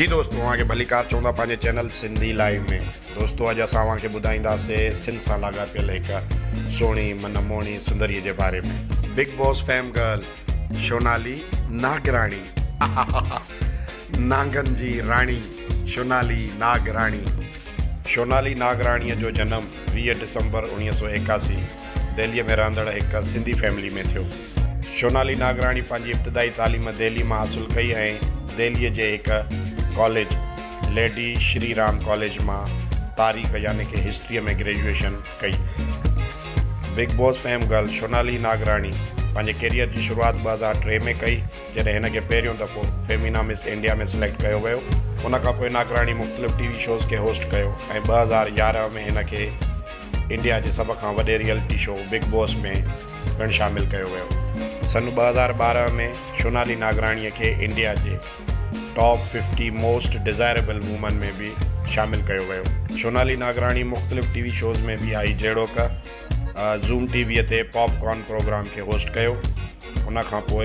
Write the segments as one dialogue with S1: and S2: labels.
S1: جي دوستو اوهان کي ڀليڪار چوندا پنهنجي چينل سنڌي لائيو ۾ دوستو اڄ اسان اوهان کي ٻڌائينداسي سنڌ سان لاڳاپيل هڪ سهڻي من موهڻي سندري جي باري ۾ big boss fame girl Shonali Nagrani هاهاها نانگن جي راڻي شونالي ناگراڻي شونالي ناگراڻي جو جنم ويهه ڊسمبر اوڻيهه سؤ ايڪاسي دهلي ۾ رهندڙ هڪ سنڌي فيملي ۾ ٿيو. شونالي ناگراڻي پنهنجي ابتدائي تعليم دهلي مان حاصل ڪئي ۽ دهليء جي هڪ college lady Shri Ram college مان تاريخ يعني ڪه هسٽريء ۾ گريجوئيشن ڪئي. Big boss fame girl Shonali Nagrani پنهنجي ڪيريئر جي شروعات ٻه هزار ٽي ۾ ڪئي جڏهن هن کي پهريون دفعو فيمينا مس انڊيا ۾ سليڪٽ ڪيو ويو. ان کانپوء ناگراڻي مختلف ٽي وي شوز کي هوسٽ ڪيو ۽ ٻه هزار يارهن ۾ هن کي. انڊيا جي سڀ کان وڏي ريئلٽي شو بگ باس ۾ پڻ شامل ڪيو ويو. سن ٻه هزار ٻارهن ۾ شونالي ناگراڻي کي انڊيا جي top fifty most desirable women ۾ به شامل ڪيو ويو. شونالي ناگراڻي مختلف ٽي وي شوز ۾ به آئي جهڙوڪ زوم ٽي وي تي پاپ ڪارن پروگرام کي هوسٽ ڪيو ان کان پوء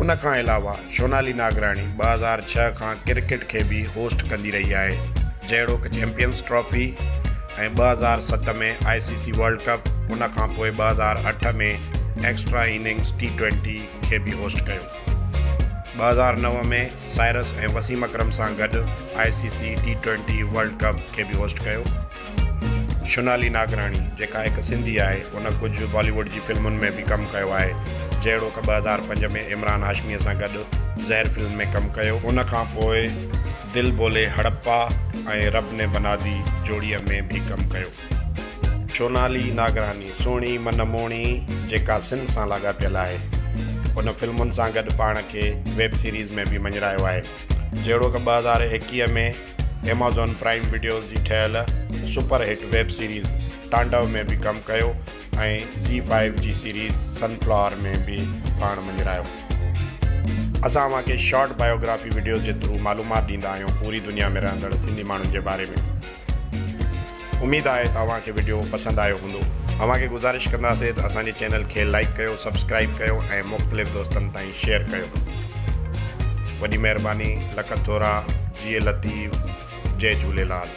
S1: ان کان علاوه شونالي ناگراڻي ٻه هزار ڇهه کان ڪرڪيٽ کي به هوسٽ ڪندي رهي آهي جهڙوڪ چيمپيئنز ٽرافي ۽ ٻه هزار ست ۾ آء سي سي ورلڊ ڪپ ان کان پوء ٻه هزار اٺ ۾ ايڪسٽرا اننگز ٽي ٽوئنٽي کي به هوسٽ ڪيو ٻه هزار نو ۾ سائرس ۽ وسيم اڪرم سان گڏ I C C T twenty world cup کي به هوسٽ ڪيو. شونالي ناگراڻي جيڪا هڪ سنڌي آهي ان ڪجهه بالي ووڊ جي فلمن ۾ به ڪم ڪيو آهي جهڙوڪ ٻه هزار پنج ۾ عمران هاشمي سان گڏ زهر فلم ۾ ڪم ڪيو ان کان پوء دل بولي هڙپا ۽ رب ني بنا دي جوڙي ۾ به ڪم ڪيو. شونالي ناگراڻي سهڻي من موهڻي جيڪا سنڌ سان لاڳاپيل آهي ان فلمن سان گڏ پاڻ کي ويب سيريز ۾ به مڃرايو آهي جهڙوڪ ٻه هزار ايڪيهه ۾ ايمازون پرائيم وڊيوز جي ٺهيل super hit web series Tandav ۾ به ڪم ڪيو ۽ زي فائيو جي سيريز سن فلاور ۾ به پاڻ مڃرايو. اسان اوهان کي شارٽ بايوگرافي وڊيوز جي ٿرو معلومات ڏيندا آهيون پوري دنيا ۾ رهندڙ سنڌي ماڻهن جي باري ۾. اميد آهي ته اوهان کي وڊيو پسند آيو هوندو. اوهان کي گذارش ڪنداسين ته اسان جي چينل کي لائيڪ ڪيو سبسڪرائيب ڪيو ۽ مختلف دوستن تائين شيئر ڪيو وڏي مهرباني لک ٿورا جيئي لطيف جئي جهوليلال.